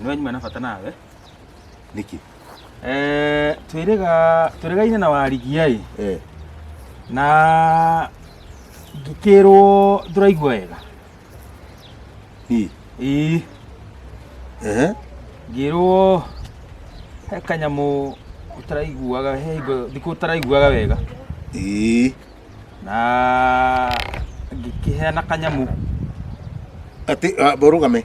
nĩ wanyuma na bata nawe nĩkĩ Eh, twĩrĩga twĩrĩgaine na warigia ĩ eh na ngĩkĩrwo ndũraigua wega hi ĩ eh ngĩrwo he kanyamũ ũtaraiguaga he hingo thikũ ũtaraiguaga wega eh na ngĩkĩheana kanyamũ ati ah, borugame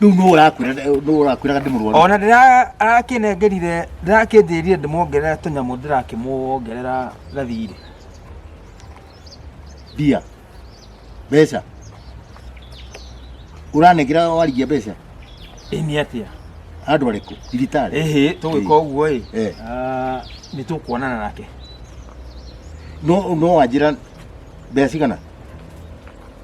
rĩu nũ ũrakwĩra nũ ũrakwĩraga ndĩ mũrwaru ona ndĩrakĩnengerire ndĩrakĩnjĩrire ndĩmuongerera tũnyamũ ndĩrakĩmuongerera gathirĩ mbia mbeca ũranengera warigia mbeca ĩ nĩ atĩa andũ arĩkũ thibitarĩ ĩhĩ tũgwĩka ũguo ĩ Eh. ah, nĩ tũkuonana nake no no wanjĩra mbeca cigana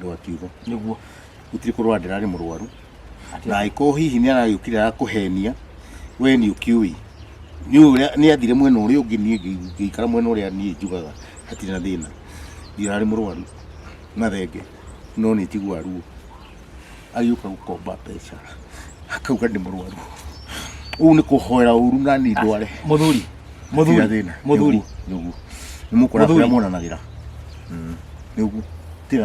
ndwa kiugo niguo gutiri kurwa ndirari murwaru na aiko hihi ni aragukire arakuhenia we ni ukiui ni uria ni athire mwena uria ungi ni ngikara mwena uria ni njugaga hatiri na thina ndirari murwaru na thenge no ni tigwa ruo agĩũka gũkomba mbeca akauga nĩ mũrwaru ũu nĩ kũhoera ũru na ni ndware muthuri muthuri Tiga thĩna. muthuri Nĩ ũguo. nĩ mũkora Mũthuri. kũrĩa monanagĩra Mm. nĩ ũguo Tiga